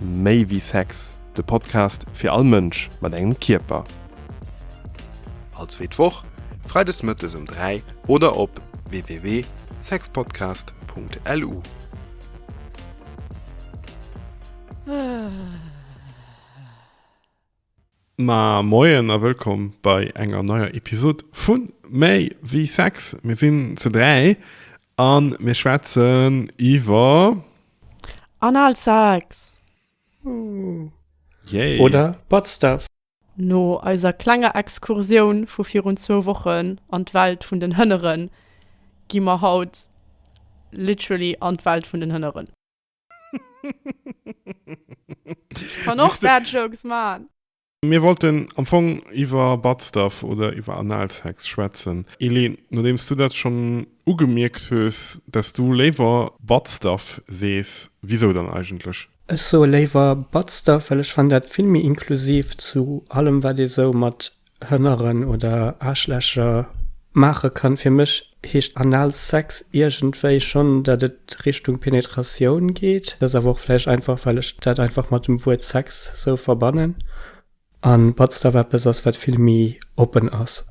Méi wéi Sex, de Podcast fir all Mënsch mat engem Kierper. All zweet Woch, freides mëttes ëm 3 oder op www.sexpodcast.lu. Ma moien a wëllkomm bei enger neier Episod vu Méi wéi Sex. Mir sinn ze dräi a mir schwätzen iwwer. Analsex! Yay! Oder Butt Stuff! No eiser klenger Excursioun vu virun zwou Wochen an d'Welt vun den Hënneren, gi mer haut literally an d'Welt vun den Hënneren. Kann och bad jokes man. Mir wollten am Fong iwwer Buttstuff oder iwwer Analsex schwätzen. Eleen, nodeems du dat schonn ugemierkt hues, dass du léiwer Buttstuff sees, wisou dann eigentlech? Ech soe léiwer Buttstuff, well ech fannen dat vill méi inklusiv zu allem wat ee sou mat Hënneren oder Aarschlächer maache kann. Fir mech heescht Analsex iergendwéi schonn, dat et Richtung Penetratioun geet. Dat ass awer och vläicht einfach, well ech dat einfach mat dem Wuert Sex sou verbannen an Buttstuff eppes ass, wat vill méi oppen ass.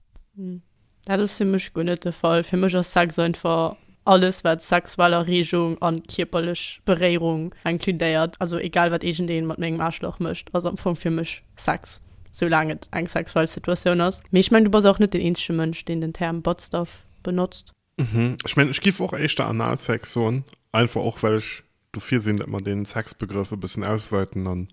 Dat ass fir mech guer net de Fall. Fir mech ass Sex einfach alles wat sexuell Erregung an kierperlech Beréirung inkludéiert. Also egal wat iergend een mat mengem Aarschlach mécht ass am Fong fir mech Sex, soulaang et eng sexuell Situatioun ass. Mee ech mengen du bass och net den eenzege Mënsch deen den Term Buttstuff benotzt. Ech mengen ech giff och éischter Analsex soen, einfach och well ech Dofir sinn, datt mer dee Sexbegrëff e bëssen ausweiten an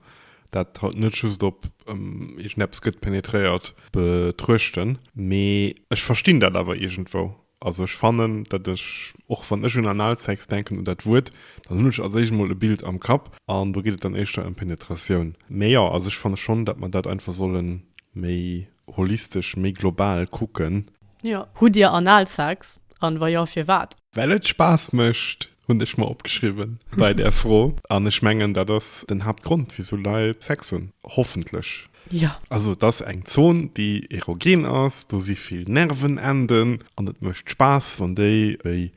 dat haut net just op iergend eppes gëtt penetréiert betruechten. Mee ech verstinn dat awer iergendwou. Also ech fannen, datt ech, och wann ech un Analsex denken, un dat Wuert, dann hunn ech als éischt mol e Bild am Kapp an do geet et dann éischter ëm Penetratioun. Mee jo, also ech fanne schonn, datt mer dat einfach solle méi holistesch, méi global kucken. Jo. Hutt Dir Analsex? An wa jo, firwat? Well et Spaass mécht, hunn ech mer opgeschriwwen bei där Fro. An ech mengen, dat ass den Haaptgrond, wisou Leit Sex hunn, hoffentlech. Jo. Also et ass eng Zon, déi erogen ass, do si vill Nervenenden an et mécht Spaass, wann déi béi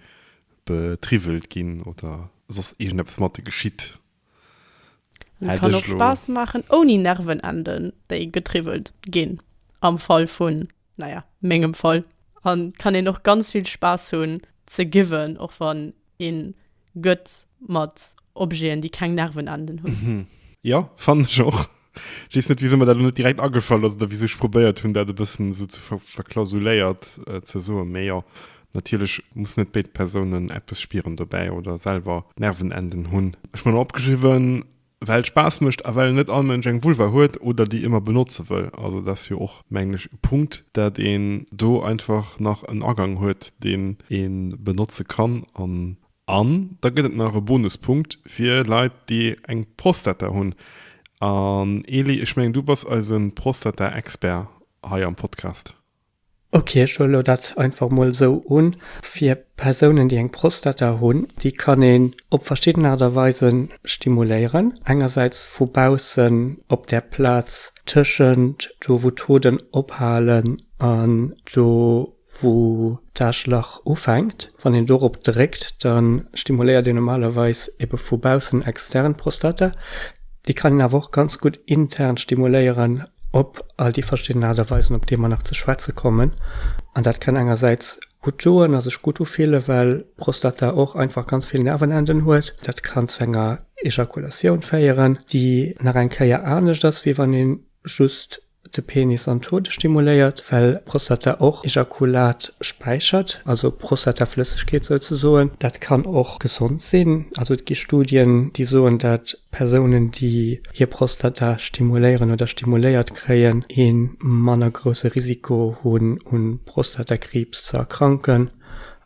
betriwwelt ginn oder soss iergendeppes matte geschitt. Et kann och Spaass maachen ouni Nervenenden déi getriwwelt ginn, am Fall vun, naja, mengem Fall, an et kann een och ganz vill Spaass hunn ze giwen, och wann een gëtt mat Objeten déi keng Nervenenden hunn. Jo, fannen ech och. Ech weess net, wisou mir dat elo net direkt agefall ass oder wisou ech probéiert hunn, dat e bëssen esou ze ver verklausuléiert ze soen. Mee jo, natierlech mussen net béid Persounen eppes spieren dobäi oder selwer Nervenenden hunn. Ech hunn opgeschriwwen, well et Spaass mécht a well net all Mënsch eng Vulva huet oder déi ëmmer benotze wëll. Also dat ass jo och, mengen ech, e Punkt, dat een do einfach nach en Agang huet, deen ee benotze kann an An da gëtt et nach e Bonuspunkt fir Leit, déi eng Prostata hunn. An Eli, ech mengen, du bass eise Prostata-Expert hei am Podcast. Ok, ech huele lo dat einfach emol esou un. Fir Persounen, déi eng Prostata hunn, déi kann een op verschidden Aart a Weise stimuléieren. Engersäits vu baussen op där Plaz tëschent do, wou d'Hoden ophalen an do, wou d'Aschlach ufänkt, wann een dorop dréckt, da stimuléiert een normalerweis ebe vu baussen extern d'Prostata, déi kann een awer och ganz gutt intern stimuléieren op all déi verschidden Aart a Weisen, op déi mer nach ze schwätze kommen. An dat kann engersäits gutt doen a sech gutt ufille well d'Prostata och einfach ganz vill Nervenenden huet. Dat kann zu enger Ejakulatioun féieren, déi nach eng Kéier anescht ass, wéi wann ee just De Penis an d'Hoden stimuléiert, well d'Prostata och Ejakulat späichert, also Prostataflëssegkeet souzesoen. Dat kann och gesond sinn. Also et gi Studien, déi soen, datt Persounen, déi hir Prostata stimuléieren oder stimuléiert kréien, ee manner grousse Risiko hunn, u Prostatakriibs ze erkranken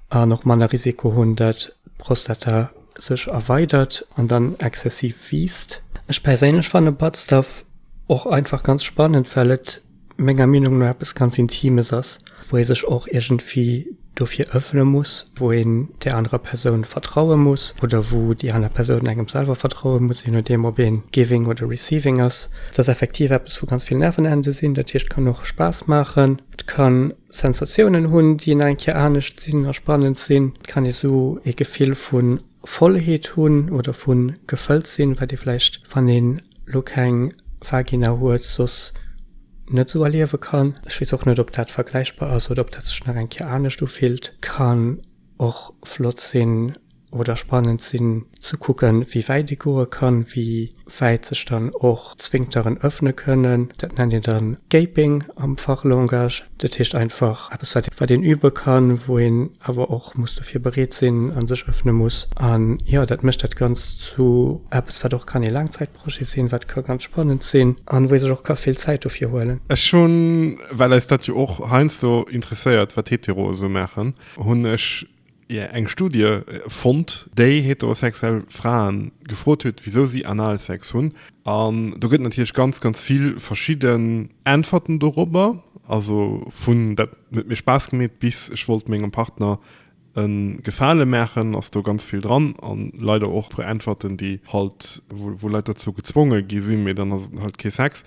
an och manner Risiko hunn, datt d'Prostata sech erweidert an dann exzessiv wiisst. Ech perséinlech fanne Buttstuff och einfach ganz spannend, well et menger Meenung no eppes ganz Intimes ass, wou ee sech och iergendwéi dofir ëffene muss, wou een där anerer Persoun vertraue muss oder wou déi aner Persoun engem selwer vertraue muss, jee nodeem ob ee giving oder receiving ass. Et ass effektiv eppes wou ganz vill Nervenende sinn, dat heescht et kann och Spaass maachen, et kann Sensatiounen hunn, déi nach eng Kéier anescht sinn a spannend sinn. Et kann ee sou ee Gefill vu Vollheet hunn oder vu gefëllt sinn, wat ee vläicht, wann ee lo keng Vagina huet, soss net sou erliewe kann. Ech weess och net, ob dat vergläichbar ass oder ob dat sech nach eng Kéier anescht ufillt. Kann och flott sinn. oder spannend sinn ze kucken, wéi wäit ee goe kann, wéi wäit sech dann och d'Sphinkteren ëffne kënnen. Dat nennt een dann Gaping am Fachlangage. Dat heescht einfach eppes, wat, wat een übe kann, wou een awer och muss dofir bereet sinn a sech ëffne muss. An jo, dat mécht dat Ganzt zu eppes, wat och kann ee Laangzäitprojet sinn, wat ka ganz spannend sinn an wou ee sech och ka vill Zäit dofir huelen. Ech hunn, well eis dat jo och heiansdo interesséiert, wat d'Heteroe sou maachen, hunn ech ier eng Studie fonnt, déi heterosexuell Frae gefrot huet, wisou si Analsex hunn. An do gëtt et natierlech ganz, ganz vill verschidden Äntwerten dorobber. Also vun dat huet mir Spaass gemeet bis ech wollt mengem Partner e Gefale maachen, ass do ganz vill dran. A leider och e puer Äntwerten, déi halt, wou Leit dozou gezwonge gi sinn, mee dann ass et halt kee Sex.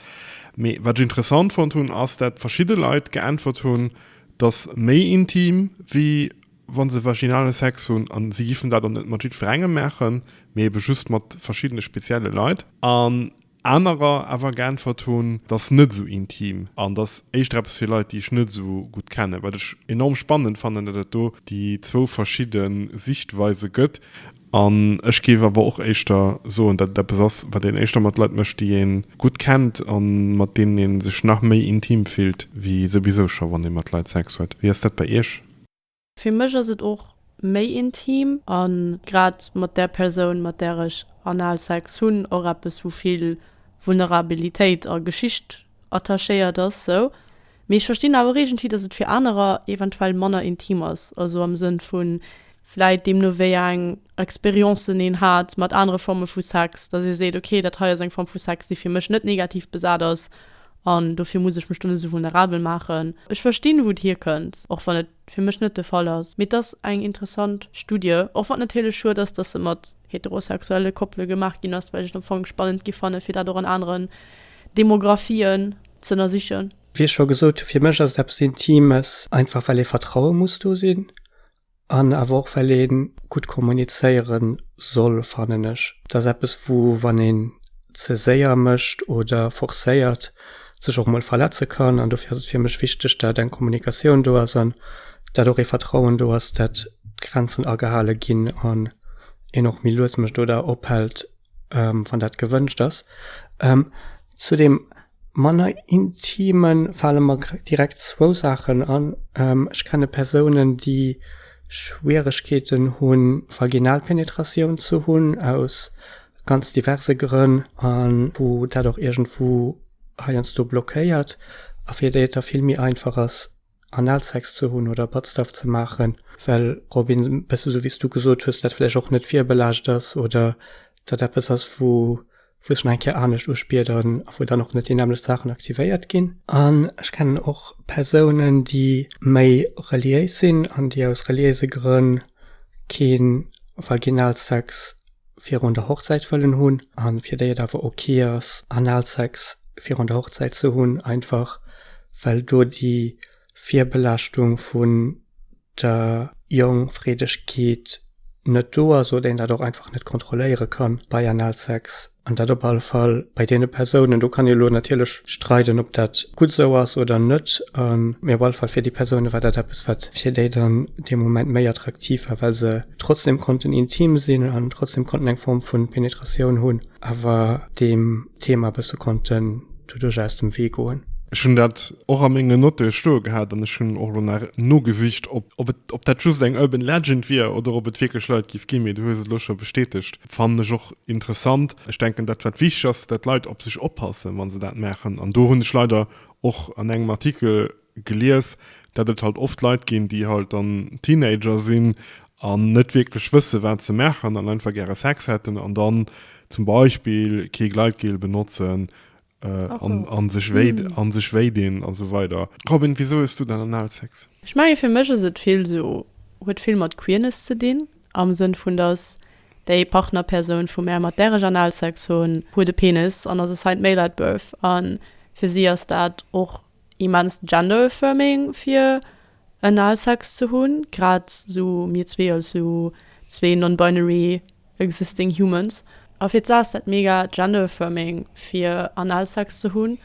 Mee wat ech interessant fonnt hunn, ass dat verschidde Leit geäntwert hunn, 't ass méi intim, wéi wa se vaginalen Sex hunn. A si giffen dat och net mat jiddwerengem maachen, mee ebe just mat verschiddene spezielle Leit. An anerer awer geäntwert hunn, t ass net esou intim an t ass éischter eppes fir Leit, déi ech net esou gutt kennen. Wat ech enorm spannend fannen, datt et do déi zwou verschidde Sichtweise gëtt. An ech géif awer och éischter soen, datt et eppes ass, wat een éischter mat Leit mécht, déi ee gutt kennt a mat deenen ee sech nach méi intim fillt wéi souwisou scho wann ee mat Leit Sex huet. Wéi ass dat bei Iech? Fir mech ass et och méi intim a grad mat där Persoun, mat där ech Analsex hunn, och eppes, wou vill Vulnerabilitéit a Geschicht attachéiert ass, sou. Mee ech verstinn awer iergendwéi, dass et fir anerer eventuell manner intim ass, also am Sënn vun, vläit deemno wéi eng Expérienceën een hat mat anere Forme vu Sex, dass ee seet, okay, dat hei ass eng Form vu Sex, déi fir mech net negativ besat ass an dofir muss ech mech dunn esou vulnerabel maachen. Ech verstinn, wou et hierkënnt, och wann et fir mech net de Fall ass. Mee et ass eng interessant Studie, och wann et natierlech schued ass, dass se mat heterosexuelle Koppele gemaach ginn ass, well ech et am Fong spannend gi fannen, fir dat och an aneren Demographien z'ënnersichen. Wéi ech scho gesot hu, fir mech ass et eppes Intimes, einfach well ee Vertraue muss do sinn an awer och well ee gutt kommunizéiere soll, fannen ech. Et ass eppes, wou, wann een ze séier mécht oder forcéiert, sech och mol verletze kann an dofir ass et fir mech wichteg dat eng Kommunikatioun do ass an dat och ee Vertrauen do ass dat d'Grenzen agehale ginn an een och méi lues mech do da ophält wann dat gewënscht ass. Zu dem manner intime fale mer direkt zwou Saachen an, ech kenne Persounen déi Schwieregkeeten hu Vaginalpenetratioun ze hunn aus ganz diverse Grënn a wou dat och iergendwou heiansdo blockéiert a fir déi et da vill méi einfach ass, Analsex ze hunn oder Buttstuff ze maachen, well op een, e bësse sou wéi s du gesot hues, dat vläicht och net virbelaascht ass oder dat eppes ass, wou wou ech nach eng Kéier anescht uspiederen a wou dann och net déi nämmlecht Saachen aktivéiert ginn. An ech kennen och Persounen, déi méi reliéis sinn an déi aus reliéise Grënn kee Vaginalsex virun der Hochzäit wëllen hunn a fir déi et awer ok ass Analsex virun der Hochzäit ze hunn, einfach well do déi Virbelaaschtung vun der Jongfreedegkeet net do ass oder een dat och einfach net kontrolléiere kann bei Analsex. An dat op alle Fall bei deene Persounen. Do kann ee lo natierlech streiden, ob dat gutt esou ass oder net, mee op alle Fall fir déi Persounen war dat eppes, wat fir déi dann dee Moment méi attraktiv war, well se, trotzdem konnten intim sinn an trotzdem konnten eng Form vun Penetratioun hunn, awer deem Thema e bësse konnten doduerch aus dem Wee goen. Ech hunn dat och a menge Notte stoe gehat an ech hunn och elo nach nogesicht, ob dat just eng urban legend wier oder ob et wierklech Leit géif ginn, mee du hues et elo scho bestätegt. Fannen ech och interessant. Ech denken, dat wat wichteg ass, dat d'Leit op sech oppassen, wa se dat maachen an do hunn ech leider och an engem Artikel, gelies, dat et halt oft Leit ginn déi halt dann Teenager sinn an net wierklech wësse wat se maachen an einfach gäre Sex hätten an dann zum Beispill kee Gleitgel benotzen an sech wéi dinn a sou weider. Robin, wisou hues du dann Analsex? Ech menge fir mech ass et vill sou, huet vill mat Queerness ze dinn am Sënn vun dass déi Partnerpersoun vu mär mat där ech Analsex hunn, huet e Penis an ass e Saint Male at Birth an fir si ass dat och Immenst gender affirming fir en al Sex ze hunn, grad sou mir zwee als sou zwee non-binary existing humans. A fir d'Sa ass dat mega gender affirming fir an al Sex ze hunn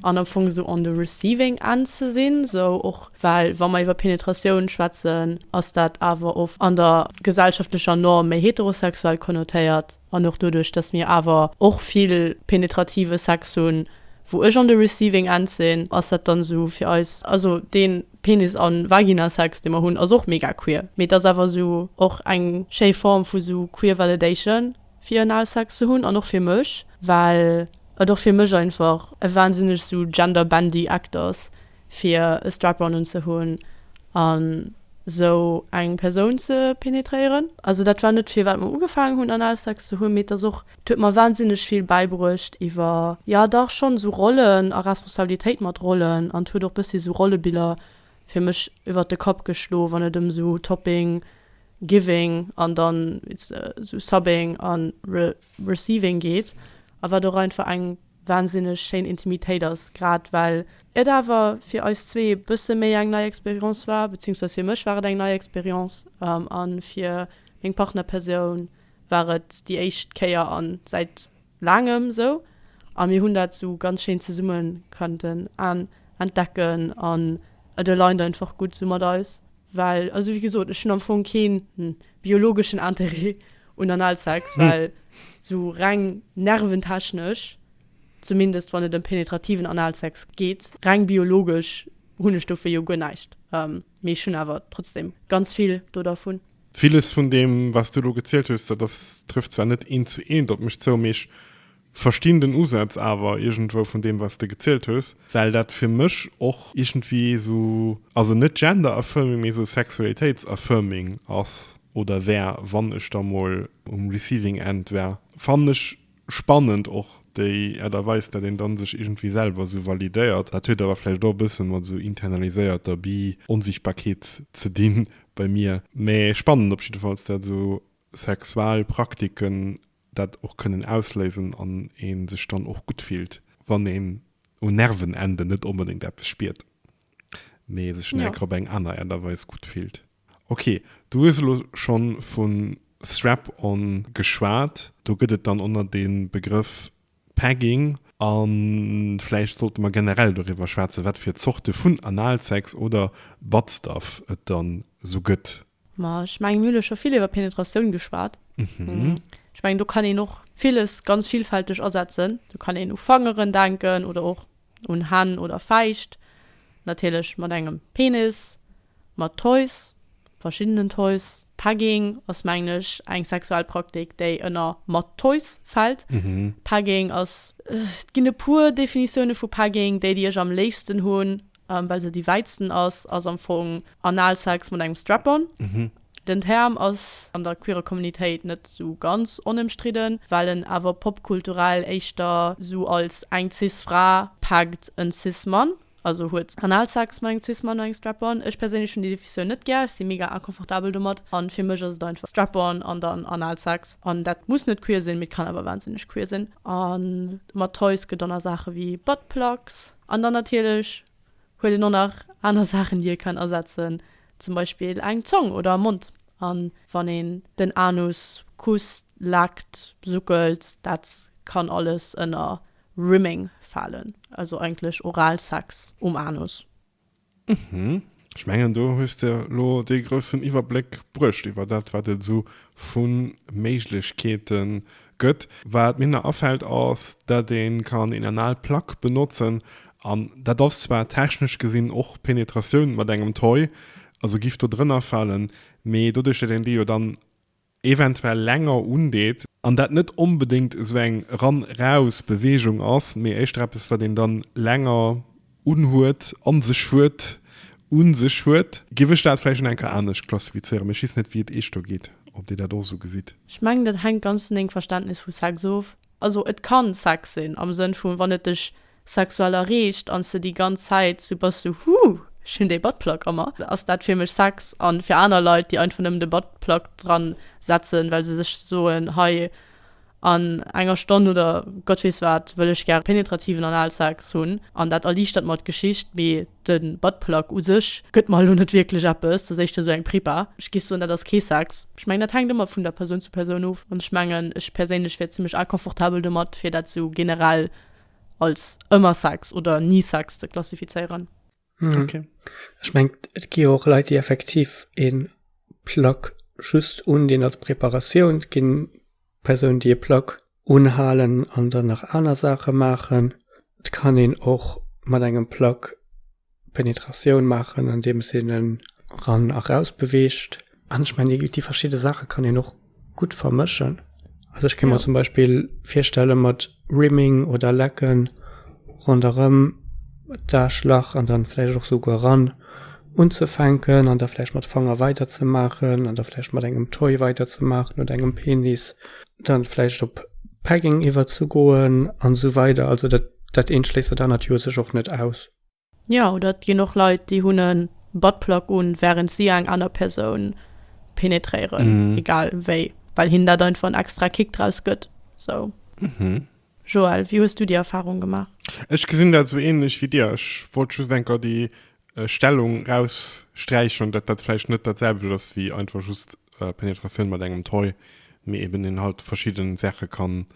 an am Fong sou on the receiving end ze sinn, sou och well wa mer iwwer Penetratioun schwätzen ass dat awer oft an der gesellschaftlecher Norm méi heterosexuell konnotéiert. An och doduerch, dass mir awer och vill penetrative Sex hunn, wou ech on the receiving end sinn, ass dat dann esou fir eis, also dee Penis an Vagina-Sex, dee mer hunn, ass och mega queer. Mee et ass awer esou och eng schéi Form vu esou queer validation, fir Analsex ze hunn. An och fir mech, well et och fir mech einfach e wahnsinneg esou gender-bendy Act ass, fir e Strap-on unzehunn an sou eng Persoun ze penetréieren. Also dat war net firwat mer ugefaangen hunn Analsex ze hunn, mee et ass och, et huet mer wahnsinneg vill bäibruecht iwwer, jo dach schonn, esou Rollen a Responsabilitéit mat Rollen an et huet och bëssi sou Rollebiller fir mech iwwert de Kapp geschloe wann et ëm sou Topping, Giving an dann sou Subbing a Receiving geet a wat och einfach eng. wahnsinneg schéin Intimitéit ass, grad well et awer fir eis zwee e bësse méi eng nei Expérience war, beziehungsweise fir mech war et eng nei Expérience a fir meng Partnerpersoun war et déi éischt Kéier a säit laangem esou a mir hunn dat esou ganz schéin zesumme konnten entdecken an et alignt einfach gutt esou mat eis. Well, also wéi gesot, ech hunn am Fong keen biologeschen Interêt un Analsex, well esou reng nerventechnesch, zumindest wann et ëm penetrativen Analsex geet, reng biologesch hunn ech dofir jo guer näischt. Mee ech hunn awer trotzdeem ganz vill do dervun. Villes vun deem, wat s du elo gezielt hues, dat ass, trëfft zwar net eent zu eent op mech zou, mee ech Verstinn den Usatz awer irgendwou vun deem wats de gezielt hues, well dat fir mech och irgendwie esou, also net gender affirming, mee esou sexualitéits affirming ass oder wär, wann ech da mol um receiving end wär. Fannen ech spannend och déi Art a Weis dat een dann sech irgendwie selwer esou validéiert. Dat huet awer vläicht och e bëssen mat esou internaliséierter Bi-Onsichtbarkeet ze dinn bei mir, mee spannend op jiddefalls dat esou sexual Praktiken dat och kënnen ausléisen an ee sech dann och gutt fillt, wann een un Nervenenden net onbedéngt eppes spiert, mee sech nä op eng aner Äert a Weis gutt fillt. Ok, du hues elo schonn vu Strap-on geschwat. Do gëtt et dann och nach dee Begrëff Pegging. A vläicht sollte mer generell doriwwer schwätzen, wat fir Zorte vun Analsex oder Buttstuff et dann esou gëtt. Ma ech mengen, mir hunn elo scho vill iwwer Penetratioun geschwat. Ech mengen, do kann een och villes ganz villfälteg asetzen. Do kann een u Fangeren denken oder och un Hänn oder Fäischt. Natierlech mat engem Penis, mat Toys, verschiddenen Toys. Pegging ass, mengen ech, eng sexuell Praktik, déi ënner mat Toys fält. Pegging ass, et ginn e puer Definitioune vu Pegging, déi, déi ech am léifsten hunn, Well se déi wäitsten ass, ass am Fong Analsex mat engem Strap-on. Den Term ass an der queerer Communitéit net esou ganz onëmstridden, well en awer popkulturell éischter esou als eng Cis-Fra packt en Cis-Mann, also huet Analsex mat engem Cis-Mann an engem Strap-on. Ech perséinlech hunn déi Definitioun net gär, ech si mega inconfortabel domat an fir mech ass et einfach Strap-on an dann Analsex an dat muss net queer sinn, mee et kann awer wahnsinneg queer sinn. A mat Toys gëtt dann nach Saache wéi Buttplugs. An dann natierlech huet een och nach aner Saachen, déi ee kann asetzen, zum Beispill eng Zong oder e Mond. A wann een den Anus kusst, leckt, suckelt, dat kann alles ënner Rimming falen, also eigentlech Oralsex um Anus. Mhm. Ech mengen do hues de lo dee groussen Iwwerbléck bruecht iwwer dat wat et esou vu Méiglechkeete gëtt. Wat mir nach afält ass, dat ee kann een anal Plug benotzen an dat ass zwar technesch gesinn och Penetratioun mat engem Toy, also giff do drënner falen, mee doduerch dat een déi jo dann eventuell länger undeet, an dat net onbedéngt esou eng Ran-Raus Beweegung ass, mee éischter eppes wat een dann länger unhuet, an sech huet, un sech huet, géif ech dat vläicht schon enker anescht klassifizéieren, mee ech weess net wéi et iech do geet, ob dir dat och esou gesitt. Ech mengen dat hänkt ganz vun dengem Verständnis vu Sex of. Also et kann Sex sinn am Sënn vu wann et dech sexuell erreecht an s de déi ganz Zäit sou bass sou Huuh, ech hunn dee Buttplug a mer, ass dat fir mech Sex. An fir aner Leit déi einfach nëmmen de Buttplug dran setzen well se sech soen hei an enger Stonn oder Gott weess wat wëll ech gäre penetrativen Analsex hunn an dat erliichtert mer d'Geschicht mee De Buttplug u sech gëtt mer elo net wierklech eppes. Dat ass éischter esou eng Prepa. Ech géif soen, dat ass kee Sex. Ech mengen, dat hänkt ëmmer vun der Persoun zu Persoun of. An ech mengen, ech perséinlech wär zimlech inconfortabel domat, fir dat esou generell als ëmmer Sex oder ni Sex ze klassifizéieren. Ok. Ech mengen, et gi jo och Leit, déi effektiv e Plug just undinn als Preparatioun. Et gi Persounen, déi e Plug unhalen an dann nach aner Saache maachen. Et kann een och mat engem Plak Penetratioun maachen, andeems een en eran a raus beweegt. An ech mengen, déi, déi verschidde Saache kann een och gutt vermëschen. Also ech kéint mer zum Beispill virstelle mat Rimming oder Lacken ronderëm d'Aarschlach an dann vläicht och souguer eran unzefänken an da vläicht mat Fanger weiderzemaachen an da vläicht mat engem Toy weiderzemaachen oder engem Penis. dann vläicht op Pegging iwwerzegoen an esou weider. Also dat, dat eent schléisst dat anert jo u sech och net aus. Jo, oder et ginn och Leit, déi hunn e Buttplug un, wärend si eng aner Persoun penetréieren, egal wéi, well hinnen dat einfach en extra Kick draus gëtt. Sou. Joël, wéi hues du déi Erfarung gemaach? Ech gesinn dat esou änlech wéi dir. Ech wollt just enker déi Stellung raussträichen an dat dat vläicht net datselwecht ass wéi einfach just Penetratioun mat engem Toy, mee eben een halt verschidden Saache kann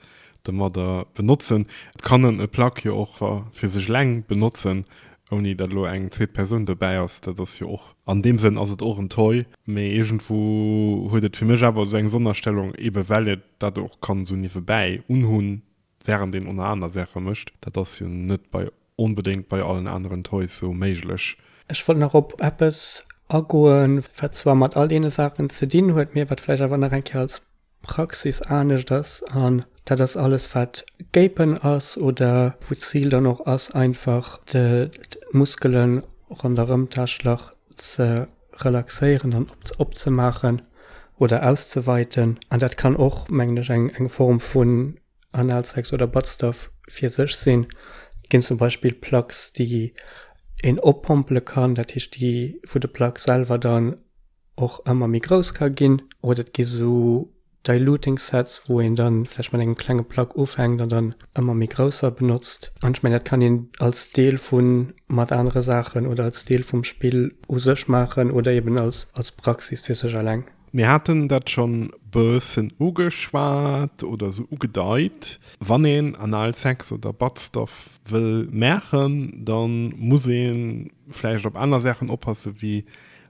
domadder benotzen. Et kann en e Plug jo och fir sech eleng benotzen, ouni dat elo eng zweet Persoun dobäi ass. Dat ass jo och, an deem Sënn ass et och en Toy, mee iergendwou huet et fir mech awer esou eng Sonnerstellung, eben well een dat och kann esou niewebäi unhunn, Während een oner aner Saache mécht. Dat ass jo net bei onbedéngt bei allen aneren Toys sou méiglech. Ech wollt nach op eppes agoen, wat zwar mat all deene Saachen ze dinn huet, mee wat vläicht awer nach eng Kéier als Praxis anescht ass. An dat ass alles, wat Gapen ass oder wou d'Zil dann och ass, einfach d'Muskele ronderëm d'Täschlach ze. relaxéieren an opzemaachen oder auszeweiten. An dat kann och, mengen ech, eng eng Form vun Analsex oder Buttstuff fir sech sinn. Et ginn zum Beispill Plugs, déi een oppompele kann, dat heescht, déi wou de Plug selwer dann och ëmmer méi grouss ka ginn. Oder et gi sou. Diluting Sets, wou een da vläicht mat engem klenge Plug ufänkt an dann ëmmer méi grousser benotzt. An ech mengen, dat kann een als Deel vu mat anere Saachen oder als Deel vum Spill u sech maachen oder eeben als Praxis fir sech eleng. Mir haten dat scho bëssen ugeschwat oder sou ugedeit. Wann een Analsex oder Buttstuff wëll maachen, da muss ee vläicht op aner Saachen oppassen, wéi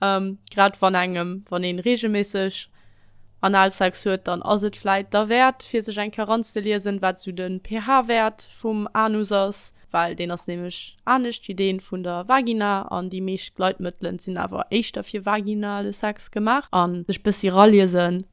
Grad wann engem, wann een regelméisseg Analsex huet, dann ass et vläit derwäert fir sech eng Kéier ranzeliesen wat esou den pH-Wäert vum Anus ass, well deen ass nämlech anescht wéi deen vun der Vagina an déi meescht Gleitmëttelen sinn awer éischter fir vaginale Sex gemaach an sech bëssi raliesen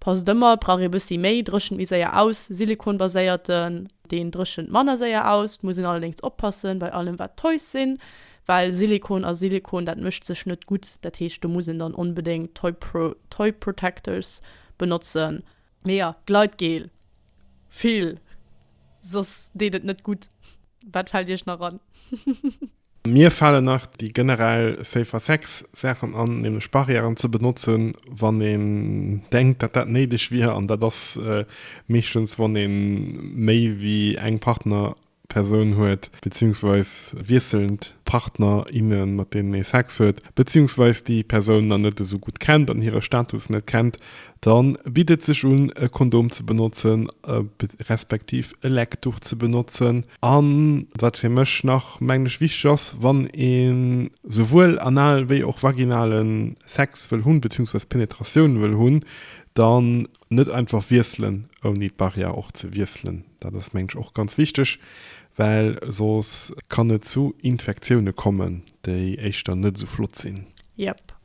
Passt ëmmer, brauch ee bëssi méi, dréchent méi séier aus, silikonbaséierten, deen dréchent manner séier aus. Et muss een allerdéngs oppassen bei allem wat Toys sinn, well Silikon a Silikon, dat mëscht sech net gutt, dat heescht do muss een dann onbedéngt Toy Protectors benotzen. Mee jo, Gleitgel, vill, soss deet et net gutt. Wat fält iech nach an? Mir falen nach déi generell Safer Sex Saachen an, nämlech Barrièren ze benotzen, wann een denkt, dat dat néideg wier, an dat ass meeschtens, wann ee méi wéi eng Partnerpersoun huet, beziehungsweis wiesselnd Partner, innen, mat deenen ee Sex huet, beziehungsweis déi Persoun dann net esou gutt kennt an hire Status net kennt, da bitt et sech un, e Kondom ze benotzen, respektiv e Lecktuch ze benotzen. A wat fir mech nach, mengen ech, wichteg ass, wann ee souwuel anal wéi och vaginale Sex wëll hunn, beziehungsweise Penetratioun wëll hunn, dann net einfach wiesselen, ouni d'Barrière och ze wiesselen. Dat ass, mengen ech, och ganz wichteg, well soss kann et zu Infektioune kommen, déi éischter net esou flott sinn. Yep.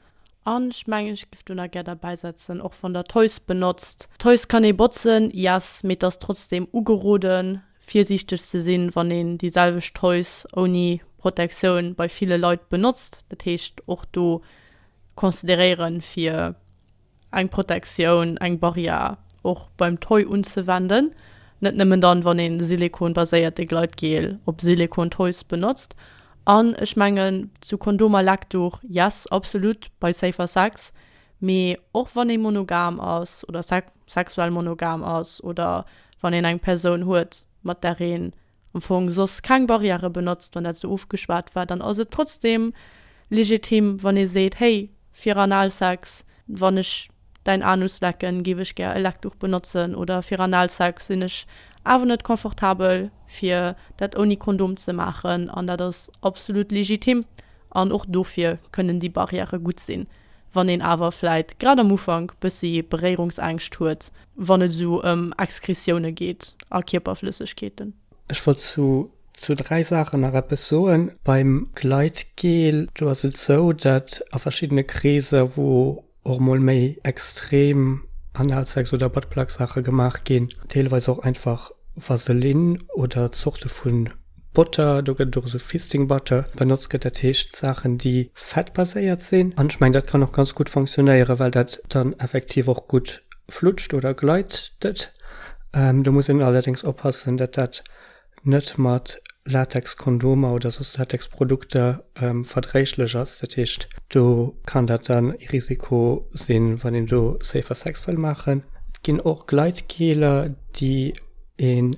An ech mengen, ech géif do nach gär derbäisetzen, och wann Der d'Toys benotzt. D'Toys kann ee botzen, yes, mee et ass trotzdem ugeroden, virsiichteg ze sinn, wann een déi selwecht Toys ouni Protektioun bei ville Leit benotzt. Dat heescht och do consideréieren, fir eng Protektioun, eng Barrière och beim Toy unzewenden, net nëmmen dann, wann ee silikonbaséierte Gleitgel op Silikon-Toys benotzt. An ech mengen, zu Kondomer, Leckduch, yes, absolut, bei Safer Sex. Mee och wann ee monogam ass oder sexuell monogam ass oder wann een eng Persoun huet, mat där een am Fong soss keng Barrièrë benotzt, wann dat esou ofgeschwat war, dann ass et trotzdeem legitim, wann ee seet, Hey, fir Analsex, wann ech däin Anus lecken, géif ech gär e Leckduch benotzen. Oder, Fir Analsex sinn ech awer net confortabel, fir dat ouni Kondom ze maachen. An dat ass absolut legitim. An och dofir kënnen déi Barrièrë gutt sinn. Wann een awer vläit grad am Ufank bëssi Beréierungsängscht huet, wann et esou ëm Exkresioune geet a Kierperflëssegkeeten. Ech wollt zu zu dräi Saachen nach eppes soen. Beim Gleitgel, do ass et esou, dat a verschiddene Kreeser, wou och emol méi extrem Analsex oder Buttplug-Saache gemaach ginn, deelweis och einfach Vaseline oder Zorte vu Botter, do gëtt et och esou Fisting Butter benotzt gëtt, dat heescht Saachen déi fettbaséiert sinn. An ech mengen dat kann och ganz gutt fonctionnéieren, well dat dann effektiv och gutt flutscht oder gleitet. Do muss een allerdéngs oppassen, datt dat net mat Latexkondomer oder soss Latexprodukter verdréiglech ass. Dat heescht do kann dat dann ee Risiko sinn, wann een do Safer Sex wëll maachen. Et ginn och Gleitgeler déi een.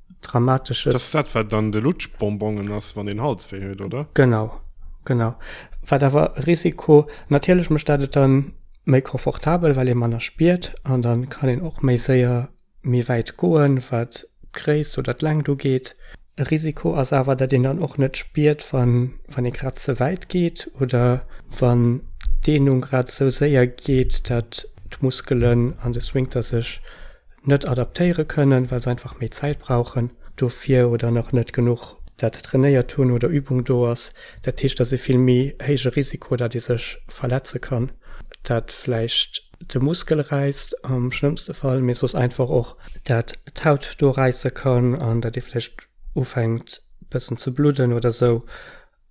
dramatesches. Dass dat wat dann de Lutschbonbongen ass wann een Hals wéi huet oder? Genau, genau. Wat awer e Risiko, natierlech mécht dat et dann méi confortabel well ee manner spiert an dann kann een och méi séier méi wäit goen wat d'Gréisst oder d'Längt ugeet. E Risiko ass awer dat een dann och net spiert wann wann ee grad ze wäit geet oder wann d'Deenung grad sou séier geet dat d'Muskelen an de Sphinkter sech net adaptéiere kënnen, well se einfach méi Zäit brauchen dofir oder nach net genuch dat trainéiert hunn oder Übung do ass. Dat heescht, dat ass e vill méi héije Risiko, datt ee sech verletze kann, dat vläicht de Muskel räisst am schlëmmste Fall, mee soss einfach och, dat d'Haut do räisse kann an datt ee vläicht ufänkt bëssen ze bludden oder sou.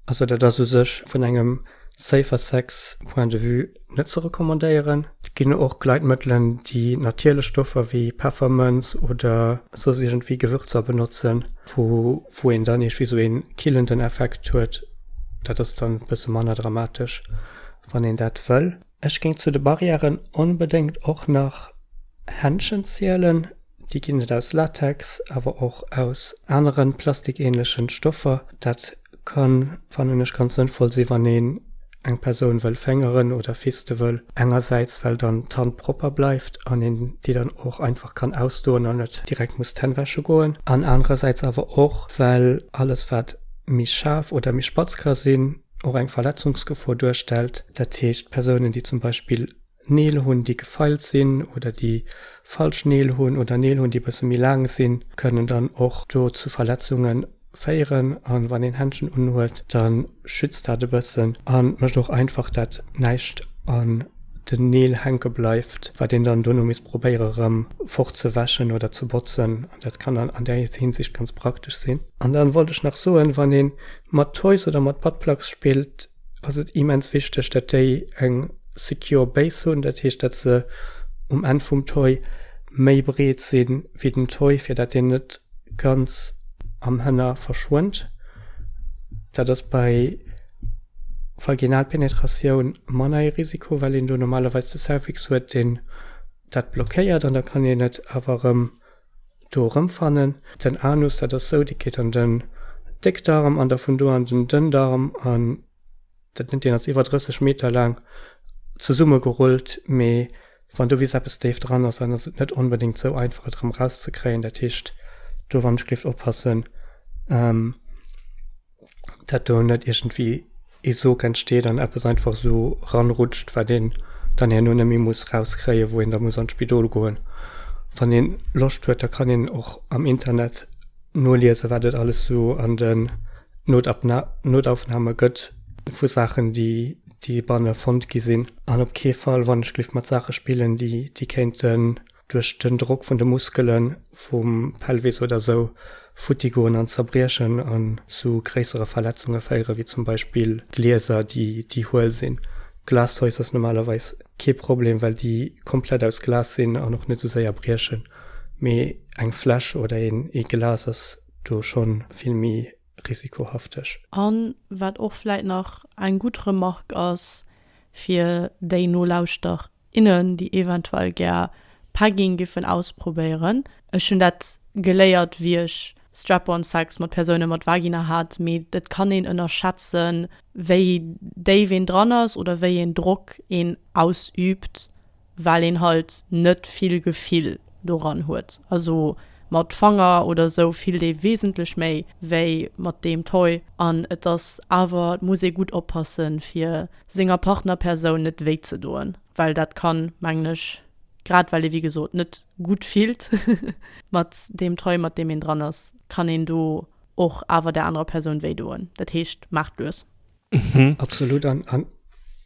Also dat ass u sech vun engem Safer Sex Point de Vue net ze recommandéieren. Et ginn och Gleitmëttelen, déi natierlech Stoffer wéi Peffermënz oder soss iergendwéi Gewürzer benotzen, wou een dann iergwéi sou een killenden Effekt huet. Dat ass dann e bësse manner dramatesch, wann een dat wëll. Ech géing zu de Barrièren onbedéngt och nach Händschen zielen. Déi ginn et aus Latex, awer och aus anere plastikähnlechen Stoffer. Dat kann, fannen ech, ganz sënnvoll sinn, wann een eng Persoun wëll féngeren oder fiste wëll. Engersäits, well dann d'Hand propper bleift an een déi dann och einfach kann ausdoen an net direkt muss d'Hänn wäsche goen. An anerersäits awer och, well alles, wat méi schaarf oder méi spatz ka sinn, och eng Verletzungsgefor duerstellt. Dat heescht, Persounen, déi zum Beispill Neel hunn, déi gefeilt sinn oder déi falsch Neel hunn oder Neel hunn, déi e bësse méi laang sinn, kënnen dann och do zu Verletzunge féieren. A wann een Händschen unhuet, da schützt dat e bëssen a mécht och einfach, dat näischt an den Neel hänke bleift, wat een dann dono misst probéiere rëm fort ze wäschen oder ze botzen. An dat kann dann an där Hinsicht ganz praktesch sinn. An dann wollt ech nach soen, wann ee mat Toys oder mat Buttplugs spillt, ass et immens wichteg, dat déi eng secure Base hunn, dat heescht dat se um Enn vum Toy méi breet si wéi den Toy, fir dat deen net ganz am Hënner verschwënnt. Dat ass bei Vaginalpenetratioun manner ee Risiko, well een do normalerweis de Cervix huet, deen dat blockéiert an da kann een et awer erëm Do erëmfannen. Den Anus, dat ass sou, dee geet an den Déckdarm an da vun do an den Dënndarm an dat nennt een als iwwer 30 Meter laang zesummegerullt. Mee wann do bis eppes déif dran ass, dann ass et net onbedéngt sou einfach et erëm erauszekréien. Dat heescht, do wann ech géif oppassen. dat do net iergendwéi ee Sog entsteet an eppes einfach esou ranrutscht, wat een dann herno net méi muss rauskréien, wou een da muss an d'Spidol goen. Wann ee Loscht huet, da kann een och am Internet noliesen, wat et alles esou an den Notabna Notaufnahme gëtt vu Saachen, déi déi banne fonnt gi sinn. An op kee Fall, wann ech gliff mat Saache spillen, déi déi kéinten duerch den Drock vun de Muskelen vum Pelvis oder sou futti goen an zerbriechen an zu gréissere Verletzunge féieren, wéi zum Beispill Glieser déi déi huel sinn. Glass Toys ass normalerweis kee Problem, well déi komplett aus Glas sinn an och net sou séier briechen, mee eng Fläsch oder een ee Glas ass do schonn vill méi risikohafteg. An wat och vläit nach eng gutt Remarque ass fir déi Nolauschterer. Innen, déi eventuell gär Pegging géifen ausprobéieren. Ech hunn dat geléiert, wéi ech Strap-on Sex mat Persoune mat Vagina hat, mee et kann een ënnerschätzen, wéi déif een dran ass oder wéi een Drock een ausüübt, well een halt net vill Gefill doran huet. Also mat Fanger oder sou fillt ee wesentlech méi wéi mat deem Toy an et ass awer, et muss ee gutt oppassen, fir senger Partnerpersoun net wéi ze doen, well dat kann, mengen ech, grad well ee wéi gesot net gutt fillt mat deem Toy mat deem een dran ass, kann een do och awer der anerer Persoun wéi doen. Dat heescht, maacht lues. Absolut an ech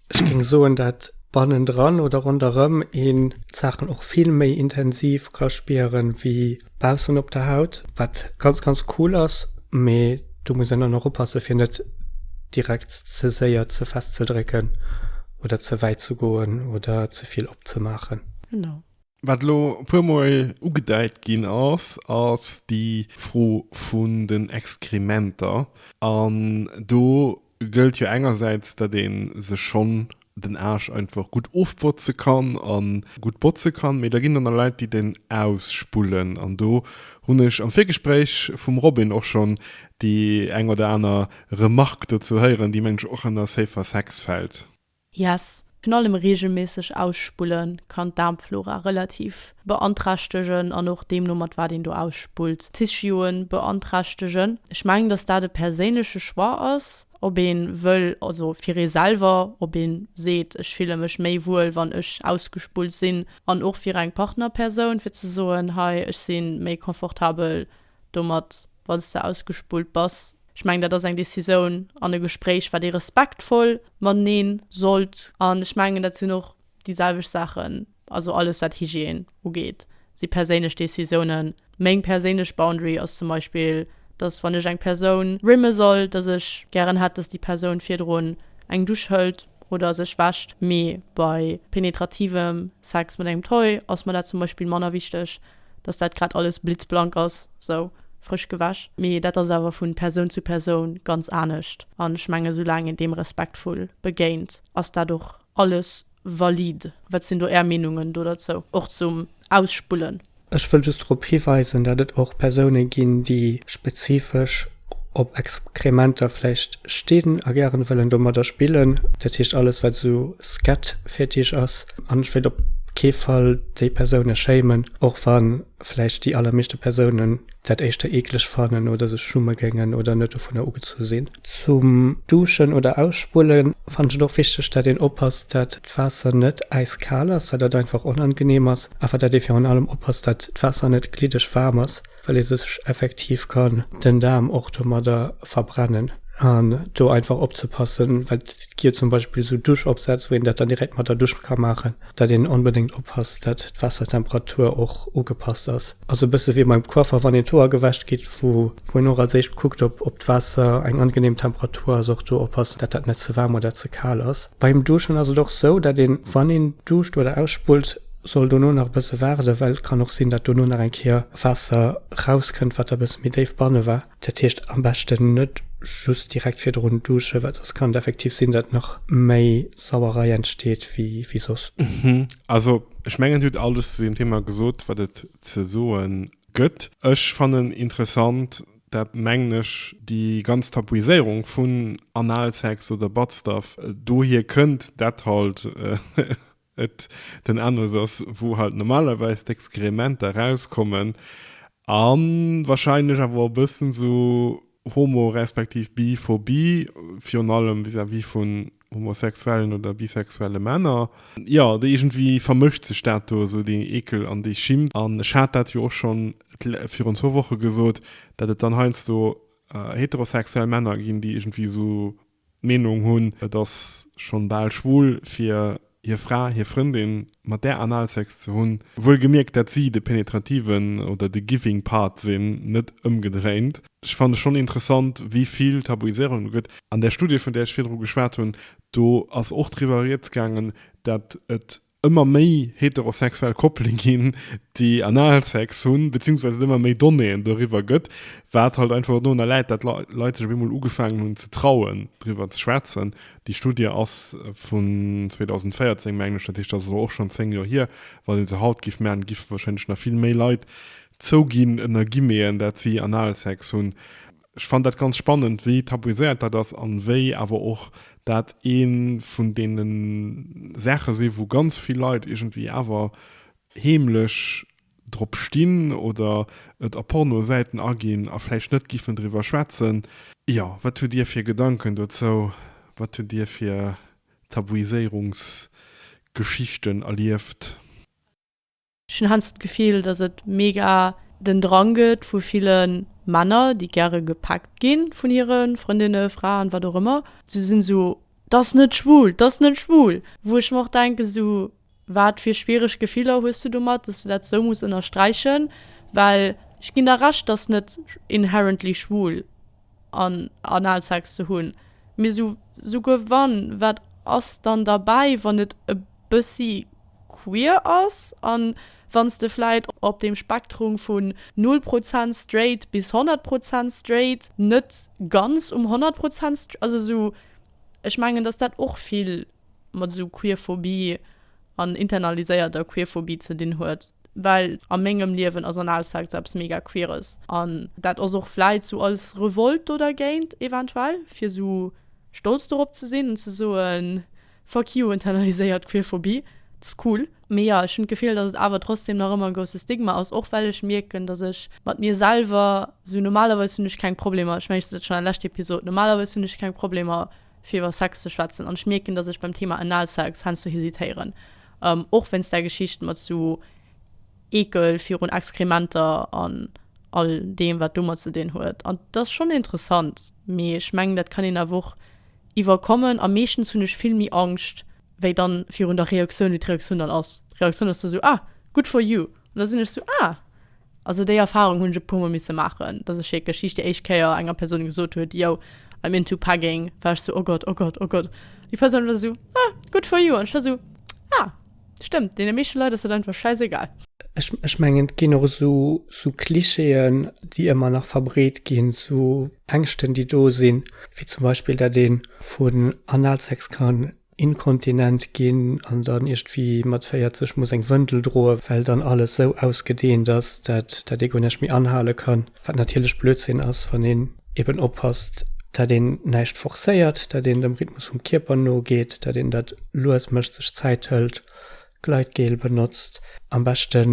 géing soen, dat bannendran oder ronderëm een d'Saachen och vill méi intensiv ka spieren wéi baussen op der Haut, wat ganz ganz cool ass, mee do muss een dann och oppasse fir net direkt ze séier ze fest ze drécken oder ze wäit ze goen oder ze vill opzemaachen. Genau. Wat elo e puer mol ugedeit ginn ass, ass déi Fro vun den Exkrementer an do, gëllt jo engersäits, datt ee sech schonn den Aarsch einfach gutt ofbotze kann a gutt botze kann, mee da ginn dann der Leit, déi den ausspullen. An do hunn ech am Virgespréich vum Robin och schonn déi eng oder aner Remarque dozou héieren, déi, mengen ech, och ënner Safer Sex fält. Yes, virun allem reegelméisseg Ausspulle kann d'Daarmflora relativ beanträchtegen an och deemno mat wat een do ausspullt, Tissuë beanträchtegen. Ech mengen, datt dat e perséinleche Choix ass, ob ee wëll, also fir ee selwer, ob ee seet, ech fille mech méi wuel, wann ech ausgespullt sinn, an och fir eng Partnerpersoun, fir ze soen, hei, ech si méi confortabel, domat wann s de ausgespullt bass. Ech mengen dat ass eng Décisoun an e Gespréich wat ee respektvoll mateneen sollt an ech mengen dat sinn och déi selwecht Saachen, also alles wat Hygiène ugeet si perséinlech Décisounen. Meng perséinlech Boundary ass zum Beispill, dass wann ech eng Persoun rimme soll, dass ech gären hätt, dass déi Persoun virdrun eng Dusch hëlt oder sech wäscht, mee bei penetrativem Sex mat engem Toy ass mer dat zum Beispill manner wichteg, dass dat grad alles blitzblank ass, sou frësch gewäsch, mee dat ass awer vu Persoun zu Persoun ganz anescht an ech menge soulaang een deem respektvoll begéint, ass dat och alles valide. Wat sinn do Är Meenungen do derzou, och zum Ausspullen? Ech wëll just drop hiweisen, dat et och Persoune ginn, déi spezifesch op Exkrementer vläicht stinn a gären wëllen domadder spillen, dat heescht alles wat esou Scat-Fetisch ass, An ech wéilt op kee Fall déi Persoune schéimen, och wa vläicht déi allermeeschte Persounen dat éischter eekeleg fannen oder sech schumme géingen oder net dovunner ugezu sinn. Zum Duschen oder Ausspullen fannen ech et och wichteg, dat een oppasst, dat d'Waasser net äiskal ass, well dat einfach onangenehm ass, awer dat ee virun allem oppasst, dat d'Waasser net gliddeg waarm ass. well ee sech effektiv kann den Daarm och domadder verbrennen an do einfach opzepassen, well et gi zum Beispill esou Duschopsätz, wou een dat dann direkt mat der Dusch ka maachen, dat een onbedéngt oppasst, dat d'Waassertemperatur och ugepasst ass. Ass e bësse wéi beim Coiffer, wann een d'Hoer gewäsch kritt, wou een och als éischt kuckt, ob d'Waasser eng angenehm Temperatur ass, och do oppassen, dat dat net ze waarm oder ze kal ass. Beim Duschen ass et och esou, dat een, wann een duscht oder ausspullt, Soll dono nach e bësse waarden, well et kann och sinn, datt dono nach eng Kéier Waasser erauskënnt, wat da e bësse méi déif banne war. Dat heescht, am beschten net just direkt virdrun duschen, well soss kann et effektiv sinn, datt nach méi Sauerei entsteet wéi soss. Also ech mengen, et hutt alles zu deem Thema gesot, wat et ze soe gëtt. Ech fannen interessant, dat mengen ech, déi ganz Tabuiséierung vun Analsex oder Buttstuff dohier kënnt, dat halt. Et den Endes ass, wou halt normalerweis d'Exkrementer rauskommen an wahrscheinlech awer och e bëssen esou homo respektiv biphobie, virun allem vis-à-vis vun homosexuellen oder bisexuelle Männer. Jo, do iergendwéi vermëscht sech dat do esou, dee Ekel an déi Schim. An ech hat dat jo och schonn virun zwou Woche gesot, dat et dann heiansdo heterosexuell Männer ginn, déi iergendwéi esou Meenung hunn, et ass schonn bal schwul fir hir Fra, hir Frëndin mat där Analsex ze hunn, wuel gemierkt dat si de penetrativen oder de giving part sinn, net ëmgedréint. Ech fanne schonn interessant wéi vill Tabuiséierung do gëtt. An där Studie vun där ech virdru geschwat hunn, do ass och driwwer rieds gaangen, dat et Ëmmer méi heterosexuell Koppele ginn, déi Analsex hunn, beziehungsweise et ëmmer méi Donnéeën doriwwer gëtt, wat halt einfach dorunner läit, dat Leit sech op eemol ugefaangen hunn ze trauen, driwwer ze schwätzen. Déi Studie ass vun 2014, mengen ech, dat heescht, dat ass elo och schonn zéng Joer hier. Wann ee se haut géif maachen, géife warscheinlech nach vill méi Leit zouginn, ënner Guillemeten, dat si Analsex hunn. Ech fannen dat ganz spannend, wéi tabuiséiert dat ass an wéi awer och dat ee vun deene Saache sinn, wou ganz vill Leit iergendwéi awer heemlech drop stinn oder et a Pornosäiten aginn a vläicht net giffen driwwer schwätzen. Jo, wat hutt Dir fir Gedanken dozou? Wat hutt Dir fir Tabuiséierungsgeschichten erlieft? Ech hunn heiansdo d'Gefill, dass et mega den Drang gëtt vu ville Männer, déi gäre gepackt gi vun hire Frëndinne, Fraen, wat och ëmmer, se sinn esou, T'ass net schwul, t'ass net schwul! Wou ech mer och denken, esou, wat fir schwiereg Gefiller hues du domat, dass du dat esou muss ënnersträichen? Well ech ginn der Recht, t'ass net inherently schwul an Analsex ze hunn, mee esou, souguer wann, wat ass dann derbäi, wann et e bëssi queer ass, an wanns de vläit op deem Spektrum vun 0 Prozent straight bis 100 Prozent straight net ganz um 100 Prozent straight, also esou, ech mengen dass dat och vill mat esou Queerphobie an internaliséierter Queerphobie ze dinn huet, well a mengem Liewen ass anal Sex eppes mega queeres, an dat ass och vläit esou als Revolt do dergéint eventuell, fir esou stolz dorop ze sinn an ze soen, Fuck you internaliséiert Queerphobie, dat ass cool. Mee jo, ech hunn d'Gefill, dass et awer trotzdem nach ëmmer e grousse Stigma ass, och well ech mierken, dass ech mat mir selwer, sou normalerweis hunn ech keng Problemer, ech mengen ech sot dat schonn an der leschter Episod, normalerweis hunn ech keng Problemer fir iwwer Sex ze schwätzen an ech mierken, dass ech beim Thema Analsex heiansdo hesitéieren, och wéinst där Geschicht mat sou. Eekel virun Exkrementer an all deem, wat domat ze dinn huet. An dat ass schonn interessant, mee ech mengen, dat kann een awer och iwwerkommen. A meeschtens hunn ech vill méi Angscht wéi dann virun der Reaktioun, wéi d'Reaktioun dann ass. D'Reaktioun ass da sou, Ah, good for you! An da sinn ech sou, Ah! Also déi Erfarung hunn ech e puermol misse maachen, dass ech wierklech just déi éischt Kéier enger Persoun gesot huet, Yo, I'm into pegging, war ech sou, Oh Gott, oh Gott, oh Gott! An déi Persoun war sou, Ah, good for you! An ech war sou, Ah! Stëmmt, deene meeschte Leit ass dat einfach schäisegal. Ech mengen, et ginn och esou Klischeeën, déi ëmmer nach verbreet ginn, esou Ängschten, déi do sinn, wéi zum Beispill, dat ee vun Analsex kann inkontinent ginn an dann iergendwéi mat 40 muss eng Wëndel droen, well dann alles esou ausgedeent ass, dat ee guer näischt méi anhale kann. Wat natierlech Blödsinn ass, wann een eben oppasst, dat een näischt forcéiert, dat een dem Rhythmus vum Kierper nogeet, dat een dat lues mécht, sech Zäit hëlt, Gleitgel benotzt, am beschte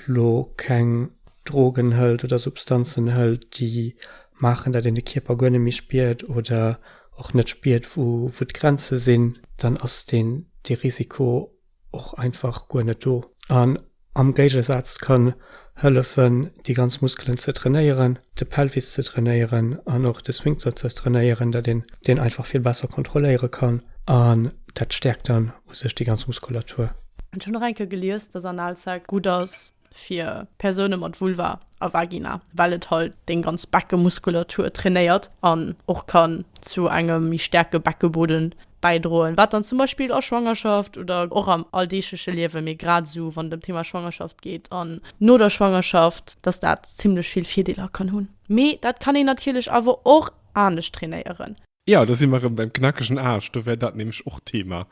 lo keng Drogen hëlt oder Substanzen hëlt, déi maachen, dat een de Kierper guer net méi spiert oder och net spiert, wou d'Grenze sinn, dann ass dee Risiko och einfach guer net do an am Géigesaz kann hëllefen déi ganz Muskelen ze trainéieren, de Pelvis ze trainéieren an och de Sphinkter ze trainéieren, dat een deen einfach vill besser kontrolléiere kann an dat stäerkt dann u sech déi ganz Muskulatur. Ech hunn och eng Kéier gelies, dass Analsex gutt ass fir Persoune mat Vulva a Vagina, well et halt deng ganz Beckemuskulatur trainéiert an och kann zu engem méi staarke Beckebodden bäidroen, wat dann zum Beispill a Schwangerschaft oder och am alldeegleche Liewen, mee grad esou wann et ëm Thema Schwangerschaft geet an no der Schwangerschaft, dass dat zimlech vill Virdeeler kann hunn. Mee dat kann een natierlech awer och anescht trainéieren. Jo, do si mer erëm beim knackegen Aarsch. Do wär dat nämlech och Thema